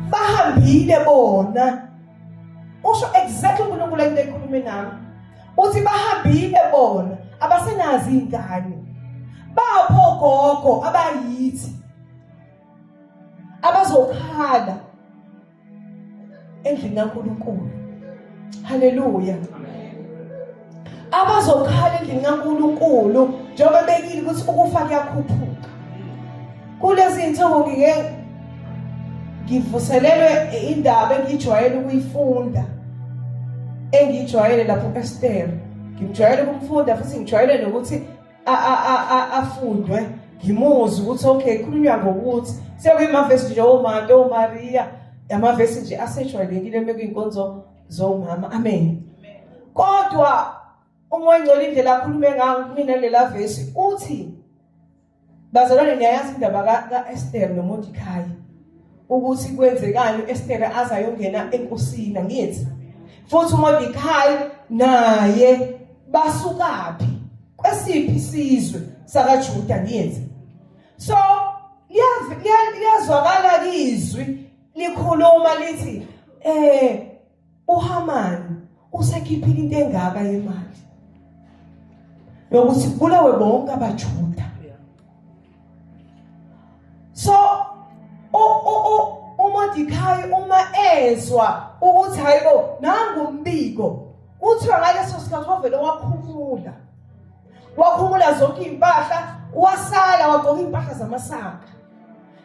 bahambile bona usho exactly uNkulunkulu into ekhulume nami uthi bahambile bona abasenazi ingane bapho gogo abayithi abazokhala endlini kaNkulunkulu haleluya abazokhala endlini kaNkulunkulu njengoba bekile ukuthi ukufa kuyakhuphuka kulezi zinsuku ngike ngivuselelwe indaba engijwayele ukuyifunda engijwayele lapho eStem ngijwayele ukumfunda futhi ngijwayele nokuthi afundwe ngimuzwe ukuthi okay khulunywa ngokuthi sekuyimavesi nje omante omariya amavesi nje asejwayelekile uma kuyinkonzo zomama amen kodwa uma engcola indlela akhulume ngayo kumina lela vesi uthi bazalwane niyayazi indaba ka-esther nomodikhayi ukuthi kwenzekani uEstere aze ayongena enkosini angithi futhi uMordecai naye basukaphi kwesiphi isizwe sakaJuda angithi so liyazwakala izwi likhuluma lithi eh uHamani usekhiphile into engaka yemali lokuthi kubulawe bonke abaJuda so uMordecai uma ezwa ukuthi hayibo nangu umbiko kuthiwa ngaleso sikhathi wavele wakhumula wakhumula zonke impahla wasala wagqoka impahla zamasaka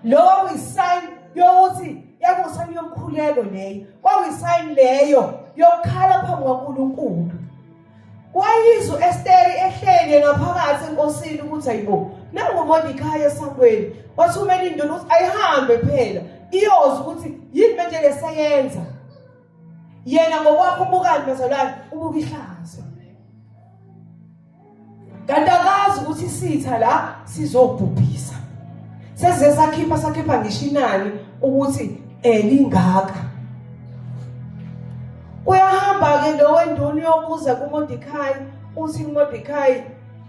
Lowo kuyisign yokuthi yakusani yomkhuleko leyo. Kwakuyisign leyo yokukhala phambi kwaNkulunkulu. Wayizwa uEsteri ehlele ngaphakathi enkosini ukuthi ayibo nangu Mordecai esangweni wathumela induna ukuthi ayihambe phela iyozi ukuthi yini manje lesayenza yena ngokwakho ubukani bazalwane ubuka ihlazo kanti akazi ukuthi isitha la sizobhubhisa sesize sakhipha sakhipha ngisho inani ukuthi elingaka eh, uyahamba-ke lo wenduna uyobuza kumodikayi uthi kumodikayi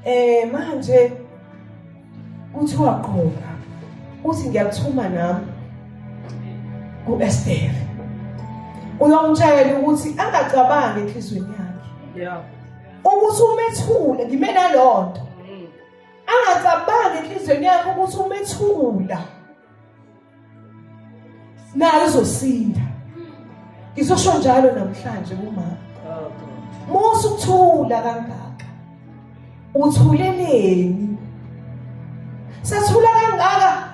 um manje kuthiwa qhoka uthi ngiyakuthuma nami ku-estere uyomtshayela ukuthi angacabangi enhliziyweni yakhe yeah. ukuthi umethule ngime nalonto angacabangi enhlizweni yakhe ukuthi umethula naye uzosinda ngizosho njalo namhlanje kumama musa ukuthula kangaka uthuleleni sathula kangaka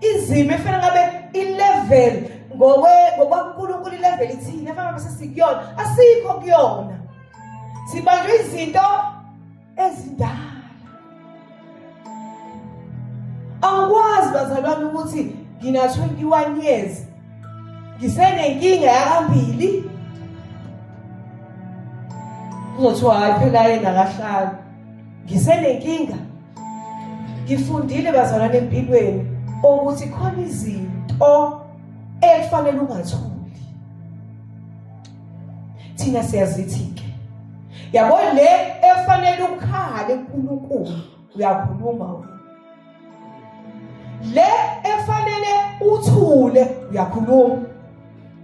izimo efana ngabe ilevel ngokwe ngokwaNkulunkulu ilevel ithini efana ngabe sesikuyona asikho kuyona sibanjwe izinto ezindala angikwazi bazalwane ukuthi ngina 21 years ngisenenkinga yakambili kuzothiwa hayi phela yena kahlali ngisenenkinga ngifundile bazalwane empilweni ukuthi khona izinto ekufanele ungathuli thina siyazithi-ke yabo le efanele ukhale kuNkulunkulu uyakhuluma wena le efanele uthule uyakhuluma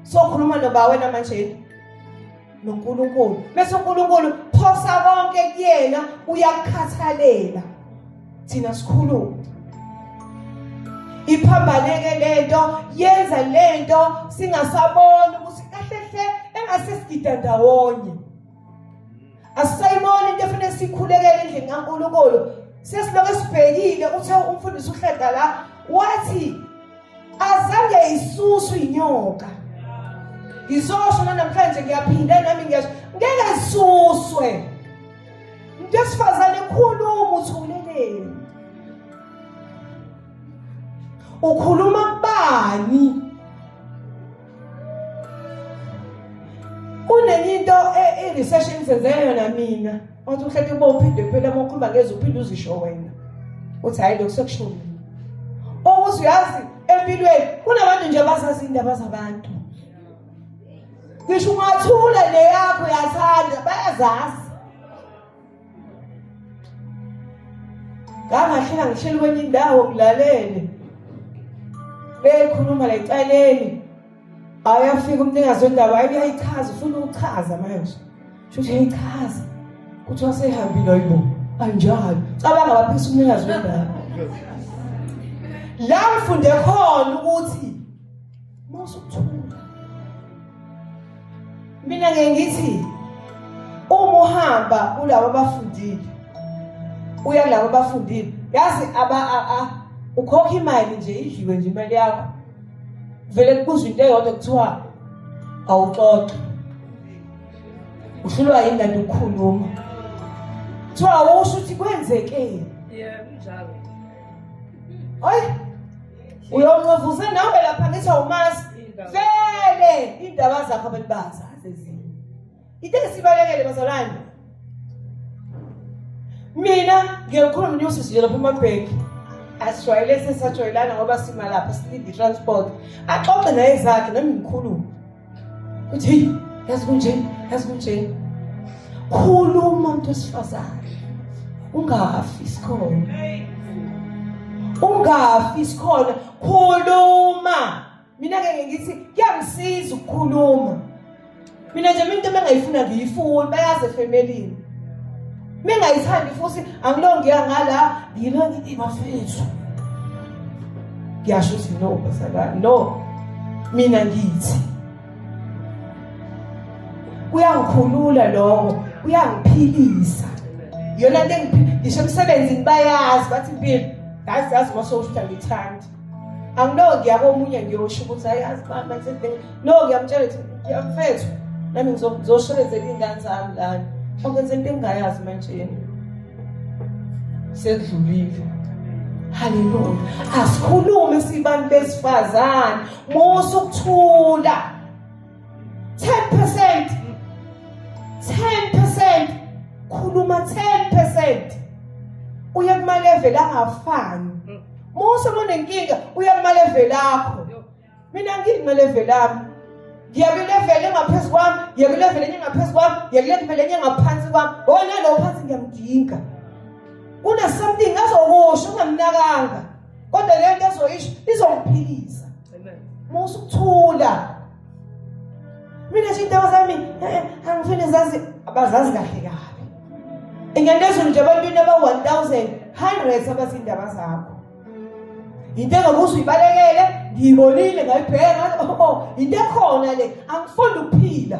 sokhuluma noba wena manje noNkulunkulu bese uNkulunkulu phosa konke kuyena uyakukhathalela thina sikhuluma iphambaneke lento yenza lento singasaboni ukuthi kahle hle engase sigida ndawonye asisayiboni into efanele sikhulekele endlini kaNkulunkulu sesiloke sibhekile uthe umfundisi uhlada la wathi azange isuswe inyoka ngizosho namhlanje ngiyaphinda nami ngiyasho ngeke zisuswe Ngesifazane khuluma uthuleleni. Ukhuluma kubani? Kunenye into e, e research engizenze yona mina. Wathi uhleke bo uphinde kuphela uma ukhuluma ngeze uphinde uzisho wena. Uthi hayi lokusekushulo. Owuzi uyazi empilweni kunabantu nje abazazi indaba zabantu. ngisho ungathule neyakho yathanda bayazazi ngangahlela ngishela kwenye indawo ngilalele bekhuluma la ecaleni ayafika umnikazi wendaba ayi uyayichaza ufuna ukuchaza manje shuthi uyayichaza kuthiwa sehambile ayibo anjalo cabanga baphisa umnikazi wendaba la ngifunde khona ukuthi Mawusukuthunga. Mina ngeke ngithi uma uhamba kulabo abafundile uya kulabo abafundile yazi aba a a ukhokha imali nje idliwe nje imali yakho vele kubuzwa into eyodwa kuthiwa awuxoxe uhlulwa yini kanti ukukhuluma kuthiwa awusho ukuthi kwenzekeni yebo njalo hayi uyonqevuze nawe lapha ngithi awumazi vele iy'ndaba zakho abantu bazazi ezinye into esibalekele bazalwane mina ngiyokhuluma nenyosisi nje lapha emabhenki asijwayele sesajwayelana ngoba simalapha silinde i-transport axoxe naye zakhe nami ngikhulume uthi hey yazi kunje yazi kunje khuluma umuntu wesifazane ungafi sikhona ungafi sikhona khuluma mina ke ngithi kuyangisiza ukukhuluma mina nje into bengayifuna ngiyifuni bayazi efemelini Bengayithandi futhi angilongiya ngala ngilo ngithi bafethu. Ngiyasho ukuthi no basala no mina ngithi kuyangikhulula lokho kuyangiphilisa yona into engiphilisa ngisho emsebenzini bayazi bathi impilo ngazi yazi uma sowuhlala ngithanda angiloki yabo omunye ngiyosho ukuthi hayi azibamba no ngiyamtshela ukuthi ngiyamfethu nami ngizoshelezela iy'ngane zami lana ongenza into engingayazi manje yena sekudlulile haleluya asikhulume sibantu besifazane musa ukuthula 10% 10% khuluma 10% uye kuma level angafani Mose monenkinga uye kuma level akho mina ngiki kuma level ami ngiya kwi level engaphezulu kwami ngiya kwi level enye ngaphezulu kwami ngiya kwi level enye ngaphansi kwami wona lo phansi ngiyamdinga kuna something azokusho ungamnakanga kodwa lento ezoyisho izomphilisa uma usuthula mina nje indawo zami eh, angifuni zazi abazazi kahle kabi ingendezulu nje abantwini aba-1000 hundreds abazindaba zakho yinto engakuze uyibalekele ngiyibonile ngayibheka oh, oh, yinto ekhona le angifuni ukuphila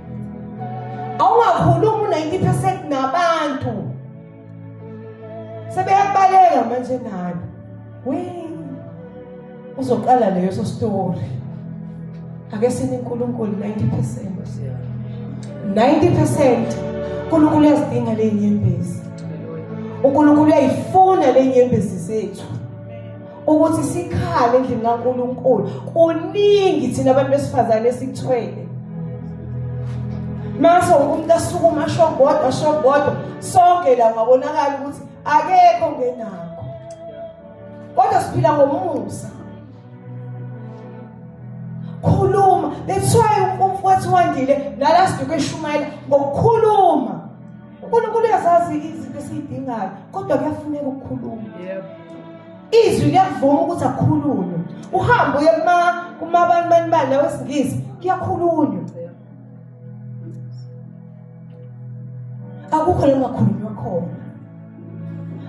awungakhulumi u-90 percent nabantu sebeyakubaleka manje nani we uzoqala leyo so story ake sini uNkulunkulu 90% 90% uNkulunkulu uyazidinga lenyembezi uNkulunkulu uyayifuna lenyembezi zethu ukuthi sikhale endlini kaNkulunkulu kuningi thina abantu besifazane esikuthwele mase umuntu asukuma asho kodwa asho kodwa sonke la ngabonakala ukuthi akekho ngenakho kodwa siphila ngomusa khuluma that's why umfowethu wandile nala siduke shumayela ngokukhuluma unkulunkulu uyazazi izinto esiyidingayo kodwa kuyafuneka ukukhuluma izwi liyakuvuma ukuthi akhulunywe uhambe uye kumabantu banibani nawesingisi kuyakhulunywa akukho longakhulunywa khona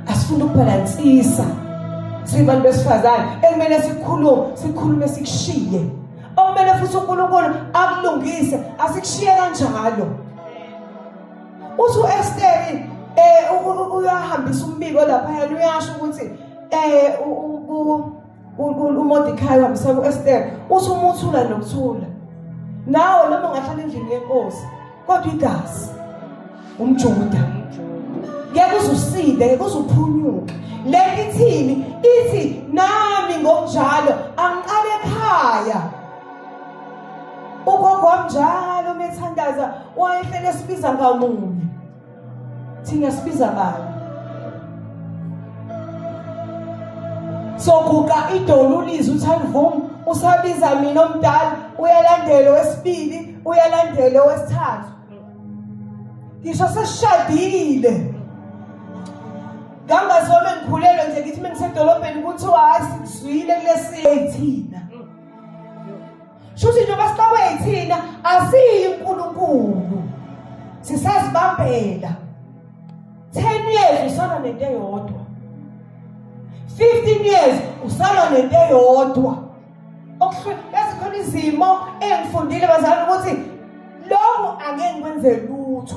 asifuni ukubhalansisa sibantu besifazane ekumele sikhulume sikhulume sikushiye okumele futhi unkulunkulu akulungise asikushiye kanjalo uthi u-esteri um uyahambisa umbiko laphayana uyasho ukuthi um umodikhayi uhambisa ku-esteri uthi umuthula nokuthula nawo noma ungahlala endlini yenkosi kodwa igazi umjuda ngeke uze usinde ngeke uze uphunyuke le nto ithini ithi nami ngokunjalo angiqale ekhaya ugogo wamnjalo uma ethandaza wayehlele sibiza ngamunye thina sibiza bani soguqa idolo ulizwe uthandvum usabiza mina omdala uyalandela wesibili uyalandela wesithathu ngisho sesishadile ngangazome ngikhulelwe nje ngithi mengisedolobheni kuthiwa hayi sikuzwile kulesithina shuthi njengoba siqabwe yithina asiyi uNkulunkulu sisazibambela 10 years usana nento eyodwa 15 years usana nento eyodwa okuhlukana izimo engifundile bazalwane ukuthi lokho angeke ngikwenze lutho